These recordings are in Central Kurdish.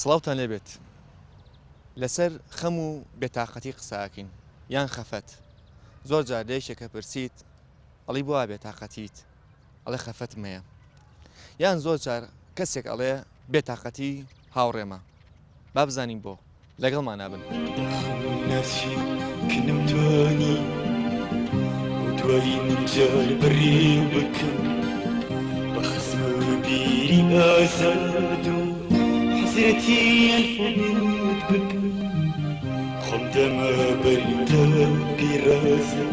سڵاوتان لێ بێت لەسەر خەم و بێتاقەتی قساکەین یان خەفەت زۆر جار لە یەکێکە پرسیت ئەڵی بۆ وا بێتاقەتیت؟ ئەڵێ خەفەتم هەیە یان زۆر جار کەسێک ئەڵێ بێتاقەتی هاوڕێمە با بزانین بۆ لەگەڵمان نابن کنمتانی دوایی منجار بڕێ بکەم بە خزم و بیری ئازاد و حەزرەتی ئەلفوت بکەم خۆم دەمە بەریتە بیرازم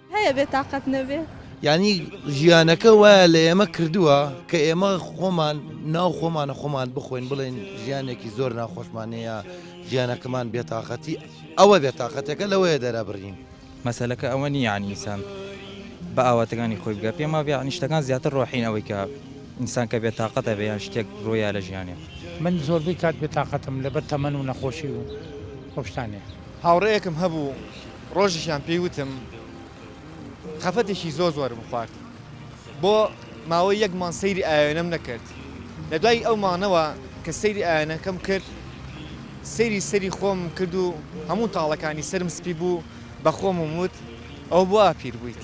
هەیە بێ تاقەت نەبێ. یانی ژیانەکە وایە لە ئێمە کردووە کە ئێمە خۆمان ناو خۆمانە خۆمان بخۆین بڵێن ژیانێکی زۆر ناخۆشمانەیە ژیانەکەمان بێتاقەتی ئەوە بێتاقەتەکە لەوەیە دەرابڕین مەسەلەکە ئەوە نی یعنی ئینسان بە ئاواتەکانی خۆی بگە پێم وابێ نیشتەکان زیاتر ڕۆحین ئەوەی کە ئینسان کە بێت تااقەتە بێ یان شتێک ڕۆیا لە ژیانێ من زۆربەی کات بێتاقەتم لەبەر تەمەن و نەخۆشی و خۆشتانێ هاوڕێیەکم هەبوو ڕۆژێکیان پێی وتم خەفەتێکی زۆر زۆرم خوارد بۆ ماوەی یەک مانگ سەیری ئاوێنەم نەکرد لە دوای ئەو مانەوە کە سەیری ئاوێنەکەم کرد سەیری سەری خۆم کرد و هەموو تاڵەکانی سرم سپی بوو بە خۆمم وت ئەو بوا پیر بوویت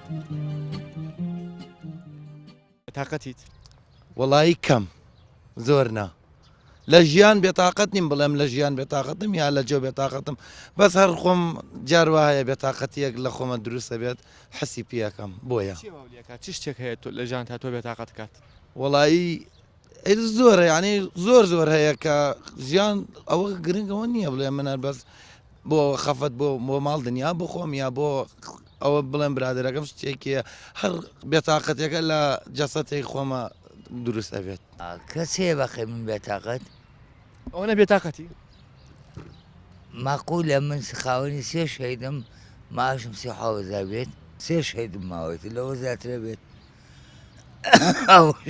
تاقەتیت وەڵایی کەم زۆر نا لە ژیان بێتاقەت نیم بڵێم لە ژیان بێتاقەتم یا لە جۆ بێتاقەتم بەس هەر خۆم جار وایە بێتاقەتیەک لە خۆمە دروستە بێت حەسی پیەکەم بۆیە چی شتێک هەیە لە ژان تا تۆ بێتاقەت کات وەڵایی ئیتر زۆرە یانی زۆر زۆر هەیە کە ژیان ئەوە گرنگەوە نییە بڵێ منە بەس بۆ خەفەت بۆ بۆ ماڵ دنیا بخۆم یا بۆ ئەوە بڵێم برادەرەکەم شتێکی هەر بێتاقەتەکە لە جەسەتێک خۆمە دروست ئەبێت کەس هەیە بەقی من بێتاقەت ئەوەنە بێتاقەتی ماقولە من خاوەنی سێ شەیدم ماشم سێ حاوەزار بێت سێ شەیدم ماوەێت لەوە زیاترە بێت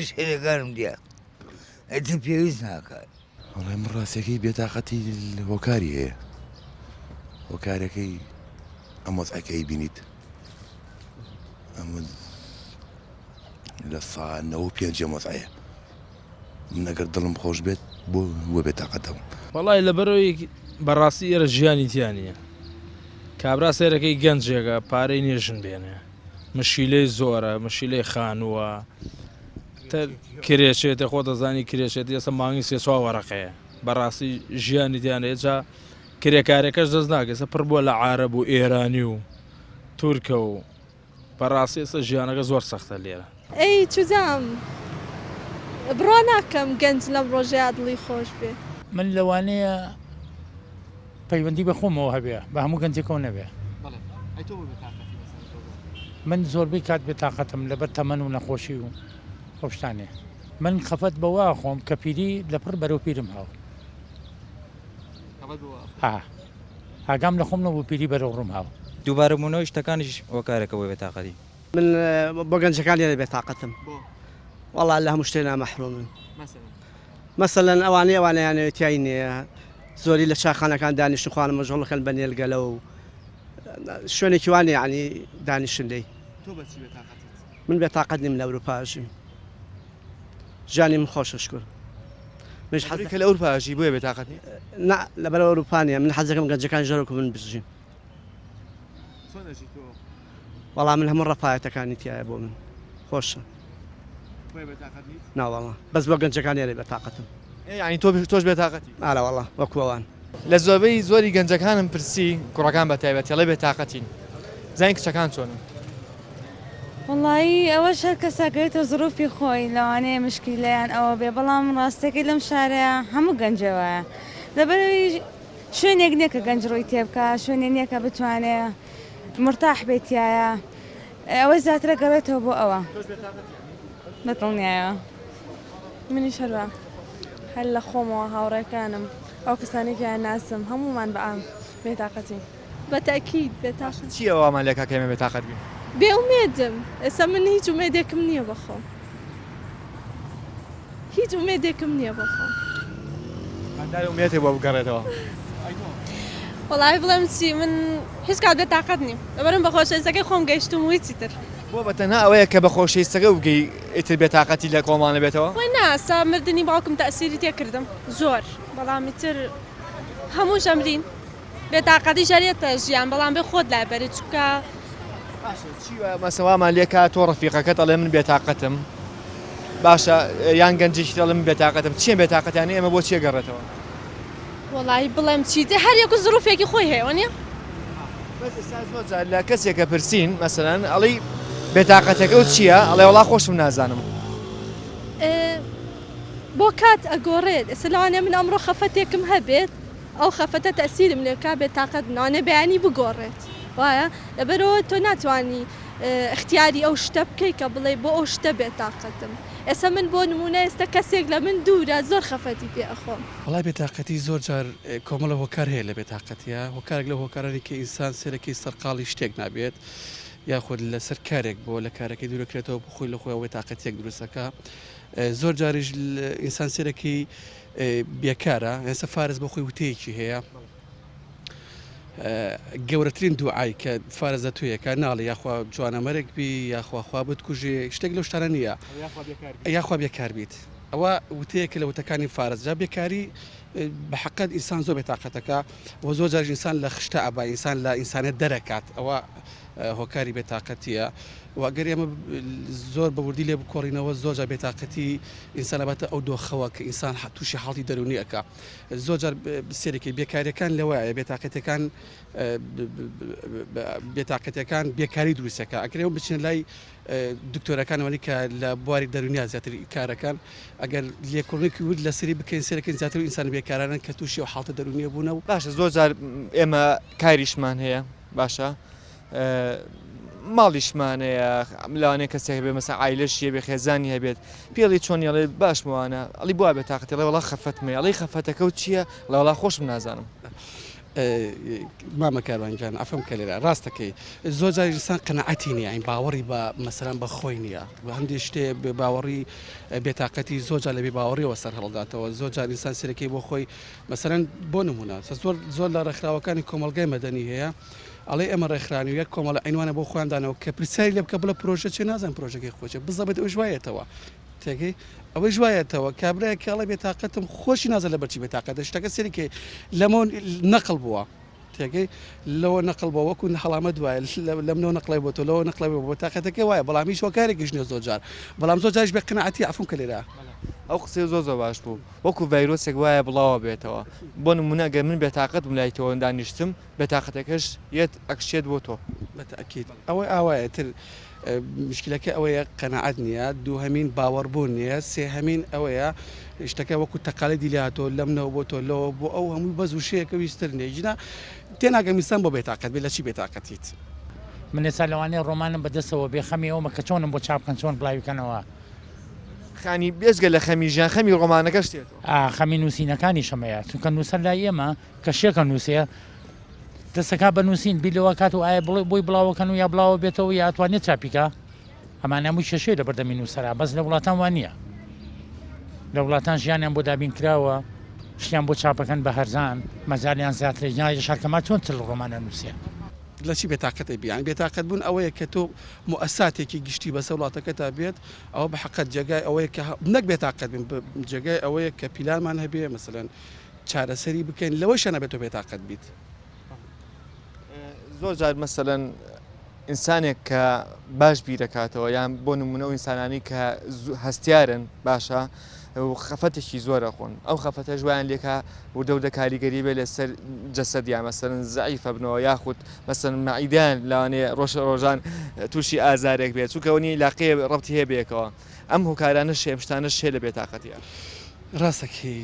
شەرەکانم دیا ئەتی پێویست ناکات وڵای من ڕاستەکەی بێتاقەتی هۆکاری هەیە هۆکارەکەی ئەمەز ئەکەی بینیت ئەمە لە سانەوە پێنجە مەزایە من ئەگەر دڵم خۆش بێت بۆ بۆ بێتاقەتەوە وڵای لە بەرەوەی بەڕاستی ئێرە ژیانی تیانە کابرا سێرەکەی گەنجێکە پارەی نێژن بێنێ مشیلەی زۆرە مشیلەی خانووە کرێچێتە خۆ دەزانی کرێچێت ئێستا مانگی سێ چوار وەرەقەیە بەڕاستی ژیانی دیانە ئێجا کرێکارەکەش دەست ناگەسە پڕ بووە لە عرب و ئێرانی و تورکە و بەڕاستی ئێستا ژیانەکە زۆر سەختە لێرە ئەی چجام بڕوا ناکەم گەنج لەم ڕۆژەیا دڵی خۆش بێ. من لەوانەیە پەیوەندی بە خۆمەوە هەبێ بە هەموو گەنجێکەوە نەبێ. من زۆربەی کات بێ تاقەتم لەبەر تەمەن و نەخۆشی و ئەو شتانێ. من خەفەت بەوە ئەخۆم کە پیری لە پڕ بەرەو پیرم هاو. ها ئاگام لە خۆم نەبوو پیری بەرەو ڕووم هاو. دووبارە بوونەوەی شتەکانیش هۆکارێکە بۆ بێ تاقەتی. من بۆ گەنجەکان لێرە بێتاقەتم وەڵا لە هەموو شتێ نامەحرومن مەسەلەن ئەوانەی ئەوانەیانەوە تای نییە زۆری لە چاخانەکان دانیشت خوانە مەژۆڵەکەن بە نێلگەلە و شوێنێکی وانێ عنی دانیشن لی من بێتاقەت نیم لە ئەوروپاژیم ژانی من خۆشە شکر مش حەزی کە لە ئەوروپاژی بۆیە بێتاقەت لەبەر ئەوروپانە من حەزەکەم گەنجەکان ژەرۆک من بژین وەڵا من هەموو ڕەفایەتەکانی تیایە بۆ من خۆشە خۆی بێتاقەت نیت؟ نا وەڵا بەس بۆ گەنجەکان ئێرە بێتاقەتم ئێ یانی تۆ تۆش بێتاقەتی؟ ئارا وەڵا وەکو ئەوان. لە زۆربەی زۆری گەنجەکانم پرسی کوڕەکان بە تایبەتی ئەڵێ بێتاقەتین بزانین کچەکان چۆنن. وەڵایی ئەوەش هەر کەسە گرێتە زڕوفی خۆی لەوانەیە مشکیلە یان ئەوە بێ بەڵام ڕاستەکەی لەم شارەیا هەموو گەنجێ وایە لەبەرەوەی شوێنێک نیە کە گەنج ڕووی تێبکا شوێنێ نیە کە بتوانێ مورتاح بێت تیایا ئەوەی زیاترە گەڕێتەوە بۆ ئەوە بەدڵنیایەوە منیش هەروا هەر لە خۆمەوە هاوڕێکانم ئەو کەسانی کە ناسم هەمومان بە ئام بێتاقەتی بەتاکیت بێتاقەت چی ئەوەمان لێکا کە ئێمە بێتاقەت بین؟ بێ ئومێدم ئێستا من هیچ ئومێدێکم نییە بەخۆم. هیچ ئومێدێکم نیە بۆ خۆم. هەتاوێ ئومێدێ بۆ بگەڕێتەوە. وەڵاهی بڵێم چی من هیچ کات بێ تاقەت نیم لەبەرم بە خۆشەویستەکەی خۆم گەیشتوم و هیچی تر. بۆ بە تەنها ئەوەیە کە بە خۆشەیستەکەی وبگەی ئیتر بێ تاقەتی لە کۆڵمان ئەبێتەوە؟ وەی نا سا مردنی باوکم تەئسیری تێ کردم زۆر بەڵام ئیتر هەمووش ئەمرین. بێتاقەتی ژەرێتە ژیان بەڵام بێ خۆت لای بەری چونکە باشە چی وایە مەسەوامان لێکا تۆ ڕەفیقەکەت ئەڵێ من بێتاقەتم باشە یان گەنجێکی دەڵێ من بێتاقەتم چیە بێتاقەتیانە ئێمە بۆ چیە گەڕێتەوە وەڵی بڵێم چیتێ هەر یەکو زروفێکی خۆی هەیە نیە بەس ئێستا زۆر جار لە کەسێکە پرسین مەسەن ئەڵی بێتاقەتەکە و چییە ئەڵێ وڵا خۆشم نازانم ئێ، بۆ کات ئەگۆڕێت ئێستا لەوانێ من ئەمڕۆ خەفەتێکم هەبێت ئەو خەفەتە تەئسیرم لێ بکا بێ تاقەت نانە بەیانی بگۆڕێت وایە لەبەرئەوە تۆ ناتوانی ئختیاری ئەو شتە بکەی کە بڵێی بۆ ئەو شتە بێ تاقەتم ئێسە من بۆ نمونە ئێستە کەسێک لە من دورە زۆر خەفەتی پێ ئەخۆم. وەڵای بێ تاقەتی زۆر جار کۆمەڵە هۆکار هەیە لە بێ تاقەتیە هۆکارێک لەو هۆکارانی کە ئینسان سەرەکی سەرقاڵی شتێک نابێت یاخود لەسەر کارێک بۆ لە کارەکەی دورە کرێتەوە بۆ خۆی لە خۆیەوە بێ تاقەتیەک دروستەکا زۆر جاریش ئینسان سەرەکی بێکارە ئێستا فارس بۆ خۆی وتەیەکی هەیە گەورەترین دوعای کە فارس دە تویەکە ناڵی یاخوا جوانە مەرەێک بی یاخواخوا بتکوژێ شتێک لەو شتانە نییە یاخوا بێکار بیت ئەوە وتەیەکە لە وتەکانی فارس جا بێکاری بە حقت ئینسان زۆر بێتاقەتەکە و زۆر جار ئینسان لە خشتە ئەبا ئینسان لە ئینسانە دەرەکات ئەوە هۆکاری بێ تاقەتیە و ئەگەر ئێمە زۆر بە وردی لێ بکۆڕینەوە زۆر جار بێ تاقەتی ئینسان ئەباتە ئەو دۆخەوە کە ئینسان تووشی حاڵی دەرونی ئەکا زۆر جار سێرەکی بێکاریەکان لەوەیە بێ تاقەتەکان بێ تاقەتەکان بێکاری دروستەکە ئەکرێەوە بچێن لای دکتۆرەکانەوەی کە لە بواری دەرونیا زیاتر کارەکان ئەگەر لێکۆڵنێکی ورد لە سری بکەین سێرەکەن زیاتر ئینسان بێکارانن کە تووشی و حڵتە دەرونیە بوونە و باشە زۆر جار ئێمە کاریشمان هەیە باشە ماڵیشمانەیە لەوانەیە کەسێک هەبێت مەسە عیلەشی هەبێ خێزانی هەبێت پێڵی چۆن ئەڵێ باشمەوانە ئەڵی بوا بێت تااقەتی ڵێ وڵا خەفەتمە ئەڵی خەفەتەکە و چییە ڵەوەڵا خۆشم نازانم. مامە کاروانگیان ئەفەم کە لێرە ڕاستەکەی زۆر جاری لسان قەنەعەتی نیە ئەین باوەڕی بە مەسەران بە خۆی نییە بە هەندی شتێ بێ باوەڕی بێتاقەتی زۆر جا لە بێ باوەڕیەوە سەر هەڵداتەوە زۆر جاریسان سەرەکەی بۆ خۆی مەسەلەن بۆ نموونە زۆر زۆر لە ڕێکخراوەکانی کۆمەڵگای مەدەنی هەیە ئەڵێ ئێمە ڕێکخرانی و یەک کۆمەڵە عینوانە بۆ خۆیان دانەوە کە پرسیاری لێ بکە بڵێ پرۆژە چێ نازان پرۆژەکەی خۆچێ بزەبێت ئەوش وایەتەوە تێگەی ئەوەی ژوایەتەوە کابراایە کاڵە بێتاقەتم خۆشی نازە لە بەرچی بێتاقەتە شتەکە سەریکەی لەمە نەقل بووە تێگەی لەوە نەقڵ بوە وەکو هەڵامەت وایە لەم لەو نەقڵی بۆ تۆ لەوە نەقڵی بۆ تاقەتەکەی وایە بەڵام هیچ هۆکارێکیش نیە زۆر جار بەڵام زۆر جاریش بێ قەناعەتی عەفوم کە لێرە ئەو قسەی زۆر زۆر باش بوو وەکو ڤایرۆسێک وایە بڵاوە بێتەوە بۆ نمونە گەر من بێتاقەت بم لای تۆ دانیشتم بێتاقەتەکەش یەت ئەکشێت بۆ تۆ. بە تەئکید ئەوەی ئاوایە تر مشکلەکە ئەوەیە قەناعەت نیە دووهەمین باوەڕبوون نیە سێهەمین ئەوەیە شتەکە وەکو تەقالەدی لاتۆ لەم نەوە بۆ تۆ لەوە بۆ ئەو هەموو بەز وشەیەکە ویستر نیە ژنا تێناگەم ئینسان بۆ بێتاقەت بێ لە چی بێتاقەتیت. من ئێستا لەوانەیە ڕۆمانم بە دەستەوە بێ خەمی ئەوەمە کە چۆنم بۆ چاپ بکەن چۆن بڵاوی کەنەوە. خانی بێجگە لە خەمی ژیان خەمی ڕۆمانەکەش تێتۆ. ئا خەمی نووسینەکانیشم هەیە چونکە نووسەر لای ئێمە کە شێکە نووسێ، دەستەکات بە نووسین بیر لەوە کات و ئایا بڵێ بۆی بڵاوەکەن و یا بڵاوە بێتەوە یا ئەتوانێت چاپیکە ئەمان هەمووی کێشەیە لە بەردەمی نووسرا بەس لە وڵاتان وان نییە لە وڵاتان ژیانیان بۆ دابین کراوە شتیان بۆ چاپەکەن بە هەرزان مەزالیان زیاترە یان شارکەما چۆن تل ڕۆمانە نووسێ لە چی بێتاقەت بیان بێتاقەت بوون ئەوەیە کە تۆ موساتێکی گشتی بەسە وڵاتەکە تا بێت ئەوە بە حقت جێگای ئەوەیە کە نەک بێتاقەت بن جێگای ئەوەیە کە پیلانمان هەبێ مەسەن چارەسەری بکەین لەوەشە نەبێت تۆ بێتاقەت بیت. زۆر جار مەسەلەن ئینسانێک کە باش بیرەکاتەوە یان بۆ نمونە و ئینسانانی کە هەستیارن باشە خەفەتێکی زۆرە خۆن ئەو خەفەتە ژویان لێکا وردەوردە کاریگەری بێ لەسەر جەسەد یا مەسەن زعیفە بنەوە یاخود مەسن مەعیدان لاوانێ ڕۆژە ڕۆژان تووشی ئازارێک بێت چووکەونی لاقێ ڕەتی هەیە بێکەوە. ئەم هۆکارانەش هەیە ئەم شتانەش هەیە لە بێتاقەتیە. ڕاست دەکەی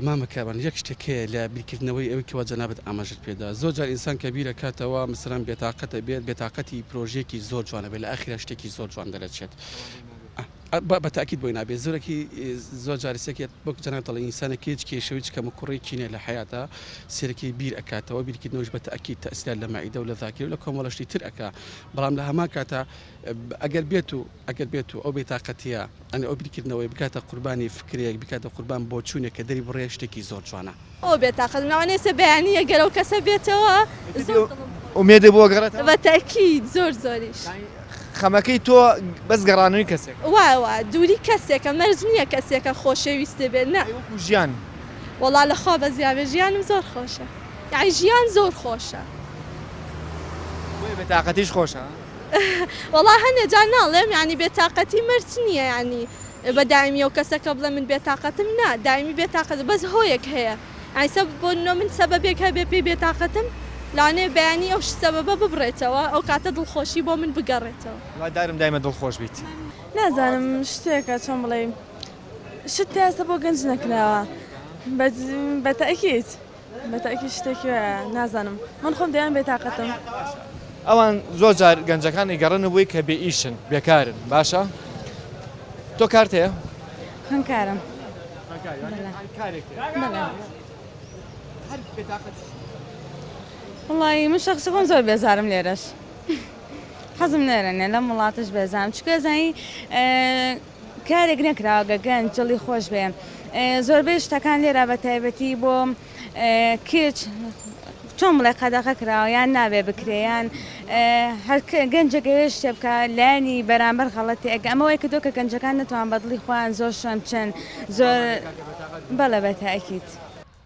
مامە کاروان یەک شتێک هەیە لە بیرکردنەوەی ئەوەی کەوا جەنابت ئاماژەت پێدا زۆر جار ئینسان کە بیر ئەکاتەوە مەسەلەن بێتاقەت ئەبێت بێتاقەتی پرۆژەیەکی زۆر جوان ئەبێت لە ئاخیرا شتێکی زۆر جوان دەرەچێت بە تاکید بۆی نابێت زۆرەکی زۆر جاری سێکێت وەک جەناب دەڵێن ئینسانێک هیچ کێشەوە هیچ کەم و کوڕێکی نیە لە حیاتە سێرەکی بیر ئەکاتەوە بیرکردنەوەش بە تاکید تەسیلات لە مەعیدە و لە ذاکیر و لە کۆمەڵەشتی تر ئەکا بەڵام لە هەمان کاتە ئەگەر بێت و ئەگەر بێتو ئەو بێتاقەتیە یانی ئەو بیرکردنەوەی بکاتە قوربانی فکرێک بیکاتە قوربان بۆچونێک کە دەری بڕێ شتێکی زۆر جوانە. ئەوە بێتاقەت مەعنەی سێ بەیانیە گەر ئەو کەسە بێتەوە زۆر دڵم خۆش دەبێ. ئومێدێ بۆ گەڕێتەوە؟ بە تەئکید زۆر زۆریش. خەمەکەی تۆ بەس گەڕانەوەی کەسێکە. وایە وایە دووری کەسێکە مەرج نیە کەسێکە خۆشەویستێ بێ نە. ئەی وەکو ژیان؟ وەڵا لە خوا بەس یابێ ژیانم زۆر خۆشە یانی ژیان زۆر خۆشە. بۆیە بێتاقەتیش خۆشە ها؟ وەڵا هەنێ جار ناڵێم یانی بێ تاقەتی مەرج نیە یانی بە دایمی ئەو کەسە کە بڵێ من بێ تاقەتم نا دایمی بێ تاقەت بەس هۆیەک هەیە یانی سە بۆ نۆ من سەبەبێک هەبێ پێی بێ تاقەتم لانێ بەیانی ئەو سەبەبە ببڕێتەوە ئەو کاتە دڵخۆشی بۆ من بگەڕێتەوە. هیوادارم دایمە دڵخۆش بیت. نازانم شتێکە چۆن بڵیم شت پێستە بۆ گەنج نەکراوە بە بە تەئکید. بەتاکید شتێکی وایە نازانم من خۆم دەیان بێتاقەتم. ئەوان زۆر جار گەنجەکان ئەیگەڕێنە بۆی کە بێ ئیشن بێکارن باشە تۆ کارت هەیە؟ خوێندکارم وڵی من شخصی خۆم زۆر بێزارم لێرەش حەزم نێرەنێ لەم وڵاتش بێزانم چکەزانی کارێک نەکراوە گە گەنج دڵی خۆش بێ زۆربەی شتەکان لێرا بە تایبەتی بۆ کچ چۆن بڵێ قەدەغە کراوە یان نابێ بکرێ یان هەر گەنجێک ئەوێ شتێ بکە لایانی بەرامبەر غەڵەتی ئەگە ئەمە وای کردو کە گەنجەکان نەتوان بەدڵی خۆیان زۆر شۆن بچن زۆر بەڵێ بە تاکید.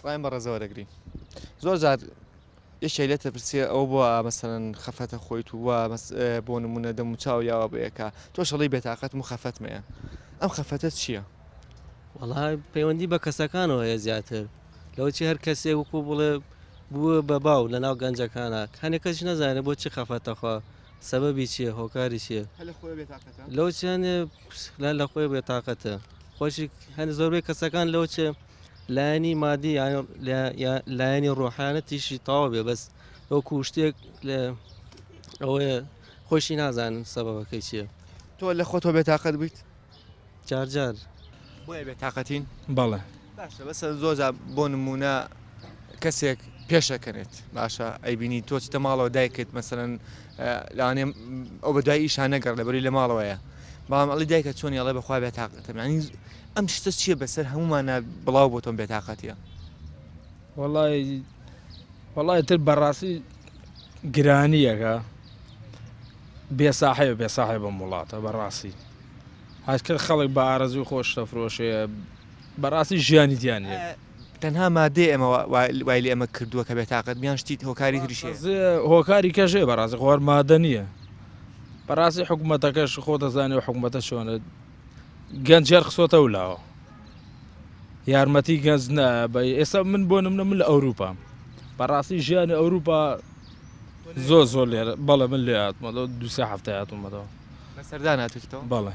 خۆیان بە ڕێزەوە دەگرین زۆر جار یەکێ لێتە پرسیە ئەو بۆ مەسەن خەفەتە خۆی تو وە بۆ نمونە دەم و چاو یاوە بەیەکە تۆ شەڵی بێتاقەت و خەفەتمەیە ئەم خەفەتە چییە؟ وەڵا پەیوەندی بە کەسەکانەوە هەیە زیاتر لەوچی هەر کەسێ وکو بڵێ بووە بە باو لە ناو گەنجەکانە هەنێک کەس نەزانێت بۆ چی خەفەتەخوا سەبەبی چیە هۆکاری چیە لەو چیانێ لە خۆی بێتاقەتە خۆشی هەن زۆربەی کەسەکان لەو چێ لایەنی مادی لایەنی ڕۆحانە تیشی تاوا بێ بەس ئەو کوشتێک لە ئەوەیە خۆشی نازانن سەبەکەی چییە تۆ لە خۆتۆ بێتاقەت بوویت جارجار بۆیە بێتاقەتین بەڵێ باشە بەسە زۆزە بۆ نمونە کەسێک پێشەکەنێت باشە ئەیبینی تۆ چتە ماڵەوە دایکت مەسەن لانێ ئەو بە دوای ئیشان نەگەڕ لەبەری لە ماڵەوەیە بەڵام ئەڵی دایکە چۆن یاڵێ بەخوا بێتاقەتەمانی ئەم شتە چییە بەسەر هەمومانە بڵاو بۆ تۆم بێتاقەتە وڵی وڵی تر بەڕاستی گرانیەکە بێساحەیە بێساحێ بەم وڵاتە بەڕاستی هەچکە خەڵک بە ئارەزوی خۆش تەفرۆشەیە بەڕاستی ژیانی دیانە تەنها مادەی ئەمە وای لە ئێمە کردووە کە بێتاقەت بیان شتی هۆکاری تریش هۆکاری کەژێ بەڕاستی خۆر مادە نییە بەڕاستی حکوومەتەکەش خۆ دەزانێ و حکوومەتە چۆنە گەنج جێر خسۆتە و لاوە یارمەتی گەنج نە بە ئێستا من بۆ نمنە من لە ئەوروپام بەڕاستی ژیانی ئەوروپا زۆر زۆر لێرە بەڵێ من لێ هاتمەەوە دوسێ هەفتە هاتوومەەوە سەردان هاتوتەوە بەڵێ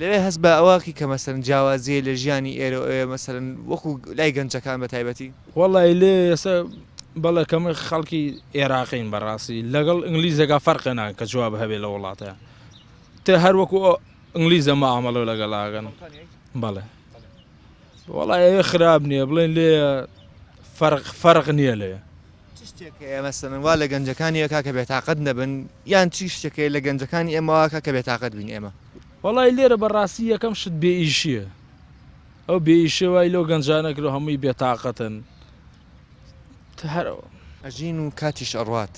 لەوێ هەست بە ئەوەکی کە مەسەلەن جیاوازییە لە ژیانی ئێرە و ئەوێ مەسەلەن وەکوو لای گەنجەکان بە تایبەتی؟ وەڵای لێ ئێستا بەڵێ کەمە خەڵکی ئێراقین بەڕاستی لەگەڵ ئینگلیزەکە فەرقێ ناکەن کە جواب هەبێ لە وڵاتەیە تێ هەر وەکو ئینگلیزە مامەڵە لەگەڵاگەن بەڵێ وەڵای ئەوێ خراپ نییە بڵێن لێ فەرق فەرق نییە لێ چ شتێک هەیە مەسەلەن وا لە گەنجەکانی ئەکا کە بێتاقەت نەبن یان چی شتێک هەیە لە گەنجەکانی ئێمەواکە کە بێتاقەت بین ئێمە؟ وەڵای لێرە بەڕاستی یەکەم شت بێ ئیشیە ئەو بێ ئیشێ وای لەو گەنجانە کرد هەمووی بێتاقەتن هەرەوە ئەژین و کاتیش ئەڕات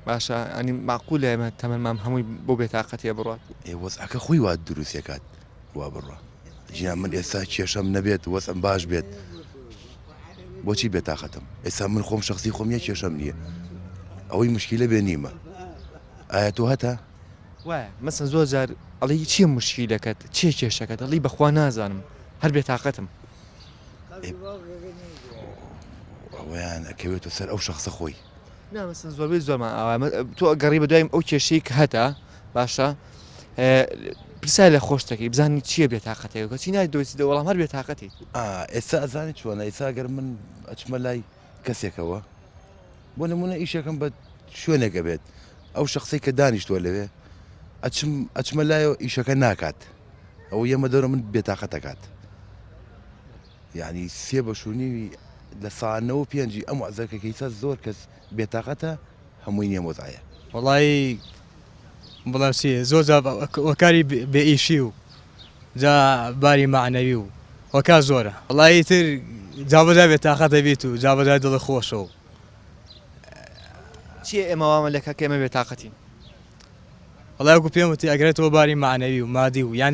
باشە ئەنی ماقولە ئێمە تەمەمان هەمووی بۆ بێتاقەتێ بڕات ئێ وەزعەکە خۆی وا دروستەکات خوا بڕوا جیان من ئێستا کێشەم نەبێت وەسم باش بێت بۆچی بێتاقەتم ئێستا من خۆم شخصی خۆم یە کێشەم نییە ئەوەی مشکیلە بێ نیمە ئایا تۆ هەتا وایە مەسە زۆر جار ئەڵی چیە مشکی دەکەت چێ کێشەکە دەڵی بەخوا نازانم هەر بێ تااقەتم ئەویان ئەکەوێتە سەر ئەو شخصە خۆی نامەسن زۆربەی زۆرمان ئاوا تۆ گەڕی بە دوایم ئەو کێشەی کە هەتا باشە پرسا لە خۆشتەکەی بزانانی چییە بێ تااقەتەکە چی نای دۆسی دە وەڵام هەر بێ تااقەتی ئێستا ئەزانی چۆن ئیسا گەر من ئەچمە لای کەسێکەوە بۆ نمونە ئیشەکەم بە شوێنێکە بێت ئەو شخصی کە دانیشتووە لەوێ ئەچم ئەچمە لایەوە ئیشەکە ناکات ئەو یەمە دەرە من بێتاقەتەکات یانی سێ بەش و نیوی لە سا نەوەو پێنجی ئەم وەعزە کە کەیسە زۆر کەس بێتاقەتە هەمووی نیە مۆزایە. وەڵایی بڵێم چی زۆر جار وەکاری بێ ئیشی و جا باری مەعنەوی و وەکار زۆرە وەڵایی تر جا بەجا بێ تاقەتە بیت و جا بەجا دڵی خۆشە و چیە ئێمە وامە لێ کە کە ئێمە بێ تاقەتین؟ وەڵای وەکو پێم وتی ئەگەرێتەوە باری مەعنەوی و مادی و یان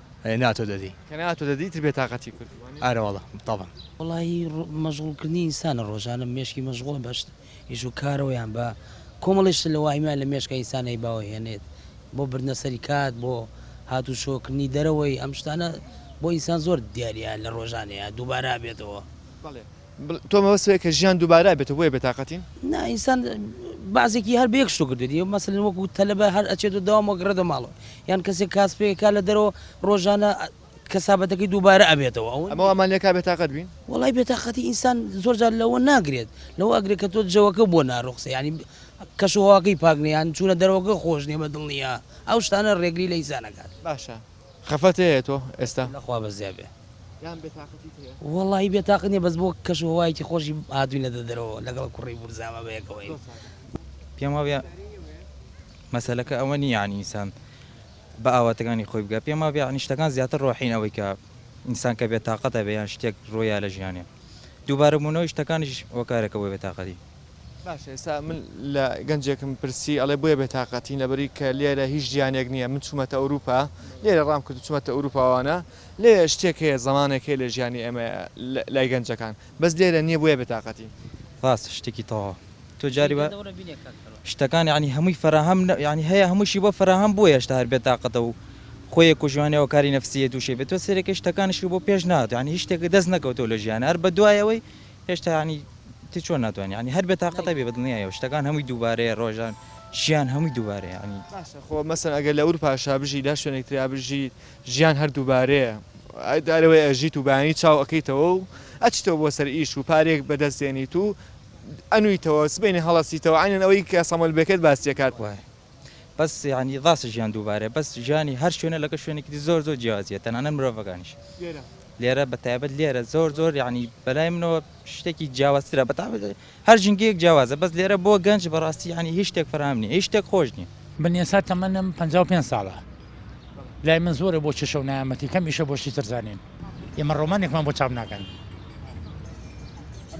ئەی ناتۆ دەدی. کە ناتۆ دەدی ئیتر بێتاقەتی کورد. ئارەوەڵا تەبەن. وەڵاهی مەشغوڵ کردنی ئینسانە ڕۆژانە مێشکی مەشغوڵە بە شت ئیش و کارەوە یان بە کۆمەڵێ شت لە واهیمان لە مێشکە ئینسان ئەی باوە هێنێت بۆ بردنە سەری کات بۆ هات و شۆ کردنی دەرەوەی ئەم شتانە بۆ ئینسان زۆر دیاریە لە ڕۆژانێ دووبارە ئەبێتەوە. بەڵێ تۆ مەبەست ئەوەیە کە ژیان دووبارە ئەبێتەوە بۆیە بێتاقەتین؟ نا ئینسان بەعزێکی هەر بە یەک شتو کردێت یە مەسەلەن وەکو تەلەبە هەر ئەچێت و داوام وەگەڕێتە ماڵەوە یان کەسێک کاسپێکا لە دەرەوە ڕۆژانە کەسابەتەکەی دووبارە ئەبێتەوە ئەو ئەمە ئەمانەکە بێتاقەت بین وڵی بێتاقەتی ئینسان زۆرجار لەوە ناگرێت لەوە ئەگرێت کە تۆ جەوەکە بۆ ناڕوخسە ینی کەشوهواکەی پاکنیان چوونە دەرەوەگە خۆش نیە بە دڵنیە ئەو شتانە ڕێگری لە ئیسانەکان باشە خەفەت هەیە تۆ ئێستا؟ لە خوا بەزیا بێ. یان بێ تاقەتیت هەیە؟ وەڵاهی بێ تاقەت نیە بەس بۆ کەش و هەوایەکی خۆشی هاتوینەتە دەرەوە لەگەڵ کوڕی بورزاما بەیەکەوەین. پێم وابێ مەسەلەکە ئەوە نیە یانی ئینسان بە ئاواتەکانی خۆی بگا پێم وابێ یانی شتەکان زیاتر ڕۆحین ئەوەی کە ئینسان کە بێ تاقەتە بێ یان شتێک ڕۆیا لە ژیانێ دووبارە بوونەوەی شتەکانیش هۆکارێکە بۆ بێ تاقەتی. باشە ئێستا من لە گەنجێکم پرسی ئەڵێ بۆیە بێتاقەتین لەبەری کە لێرە هیچ ژیانێک نییە من چوومەتە ئەوروپا لێرە ڕام کرد چوومەتە ئەوروپاوانە لێ شتێک هەیە زمانێک هەیە لە ژیانی ئێمە لای گەنجەکان بەس لێرە نییە بۆیە بێتاقەتین. ڕاستە شتێکی تەواو تۆ جاری بە شتەکان یعنی هەمووی فەراهەم یعنی هەیە هەمووشی بۆ فەراهەم بووە هێشتا هەر بێتاقەتە و خۆیە کوژوانەوە کاری نەفسیە تووشێ بێت تۆ سێرەکەی شتەکانیشی بۆ پێش نات یعنی هیچ شتێک دەست نەکەوتەوە لە ژیانە هەر بە دوایەوەی هێشتا یانی تی چۆن ناتوانانی یانی هەر بێتاقەتە بێ بەدڵنیایەوە شتەکان هەمووی دووبارەیە ڕۆژان ژیان هەمووی دووبارەیە یانی باشە خۆ مەسەن ئەگەر لە ئورپاشا بژی لا شوێنێک تریا بژی ژیان هەر دووبارەیە ئای دارەوەی ئەژیت و بەیانی چاو ئەکەیتەوە و ئەچیتەوە بۆ سەر ئیش و پارەیەک بەدەست دێنیت و ئەنوویتەوە سبەینێ هەڵەسیتەوە عەینەن ئەوەی کە سەمەلبێکەت باسی دەکات. بەس یانی ڕاستە ژیان دووبارەیە بەس ژیانی هەر شوێنە لەگە شوێنێکی دی زۆر زۆر جیازیە تەنانەت مرۆڤەکانیش لێرە بە تایبەت لێرە زۆر زۆر یعنی بەلای منەوە شتێکی جیاوازترە بە تابێت هەر ژینگەیەک جیاوازە بەس لێرە بۆ گەنج بەڕاستی یعنی هیچ شتێک فراهام نیە هیچ شتێک خۆش نیە من ئێستا تەمەنم 55 ساڵە لای من زۆرە بۆ کێشە و نایامەتی کەم ئیشە بۆ شتی تر زانین ئێمە ڕۆمانێکمان بۆ چاپ ناکەن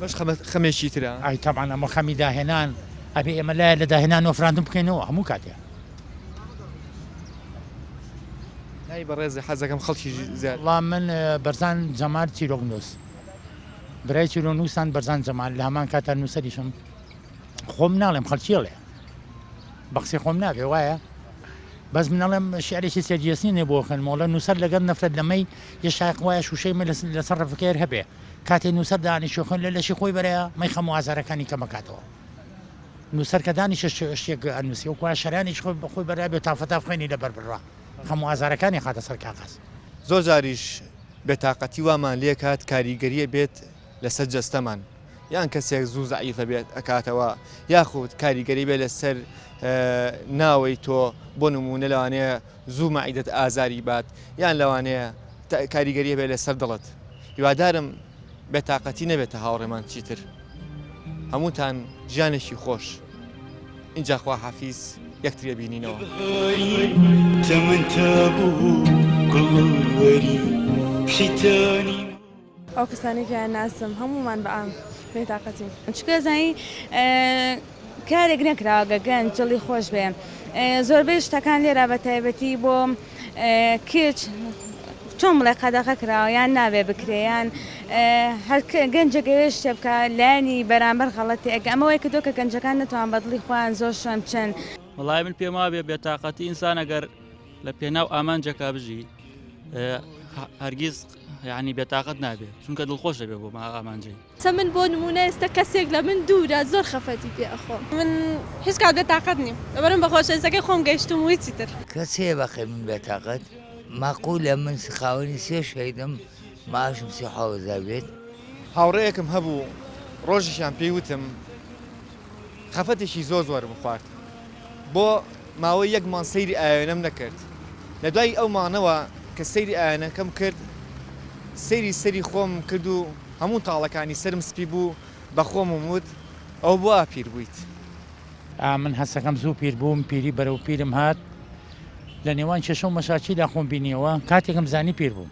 بەش خەمێکی ترە ئای تامان ئەمە خەمی داهێنان ئەبێ ئێمە لای لە داهێنان نۆفراندن بکەینەوە هەموو کاتێ لای بەڕێز حەزەکەم خەڵکی وڵام من بەرزان جەمار چیرۆک نووس برای چیرۆ نووسان بەرزان جەمال لە هەمان کاتا نووسەریشم خۆم ناڵێم خەڵکیڵێ بەخسی خۆم نابێ وایە بەس من ئەڵێم شعرێکی سەریەسنی نێ بۆ خوێن مۆڵە نووسەر لەگەر نەفرەت لە مەی یە شایق وایە شووشەی مە لەسەر ڕفکەیەر هەبێ کاتێ نووسەر دانیشە خوێن لە لەشی خۆی بەرەیە مەی خەم و ئازارەکانی کەمەکاتەوە نووسەر کە دانیشە شتێک ئەنووسی و کوای شەرانیش خۆی بەخۆی بەرا بێ تافەتا خوێنی لەبەر بڕا خەم و ئازارەکانی خاتە سەر کاغەز زۆر جاریش بێتاقەتی وامان لێکات کاریگەریە بێت لەسەر جەستەمان. یان کەسێک زوو زەعیفە بێت ئەکاتەوە یاخود کاریگەری بێ لەسەر ناوەی تۆ بۆ نمونە لەوانەیە زوو مەعیدەت ئازاری بات یان لەوانەیە کاریگەریە بێ لەسەر دڵت هیوادارم بێتاقەتی نەبێتە هاوڕێمان چیتر هەمووتان ژیانێکی خۆش اینجا خوا حەفیز یەکترێ بینینەوە تەمەتا بوو گوڵوەری شیتانی ئەو کەسانەی کە ناسم هەموومان بە عام بێ تاقەتین. چونکە زانی کارێک نەکراوە گە گەنج دڵی خۆش بێ زۆربەی شتەکان لێرا بە تایبەتی بۆ کچ چۆن بڵێ قەدەغە کراوە یان نابێ بکرێ یان هەر گەنجێک ئەوێ شتێ بکە لایەنی بەرامبەر غەڵەتی ئەگە ئەمە وای کردووە کە گەنجەکان نەتوان بە دڵی خۆیان زۆر شوێن بچن. وەڵای من پێم وابێ بێ تاقەتی ئینسان ئەگەر لە پێناو ئامانجەکە بژی هەرگیز یەعنی بێتاقەت نابێ چونکە دڵخۆش دەبێ بۆ ئامانجەی. چە من بۆ نموونە ئێستا کەسێک لە من دوورە زۆر خەفەتی پێ ئەخۆم. من هیچ کات بێتاقەت نیم لەبەرم بە خۆشەویستەکەی خۆم گەیشتووم و هیچی تر. کەس هەیە بەقەی من بێتاقەت؟ ماقوولە من خاوەنی سێ شەهیدم معاشم سی و حەوت هەزار بێت. هاوڕێیەکم هەبوو ڕۆژێکیان پێی وتم خەفەتێکی زۆر زۆرم خوارد بۆ ماوەی یەک مانگ سەیری ئاوێنەم نەکرد لە دوای ئەو مانەوە کە سەیری ئاوێنەکەم کرد سەیری سەری خۆم کرد و هەموو تاڵەکانی سرم سپی بوو بە خۆم وت ئەوە بۆ ئاپیر بوویت. ئامن هەستەکەم زوو پیر بووم پیری بەرەو پیرم هات لە نێوان کێشە و مەشاکیلا خۆم بینیەوە کاتێکم زانی پیر بووم.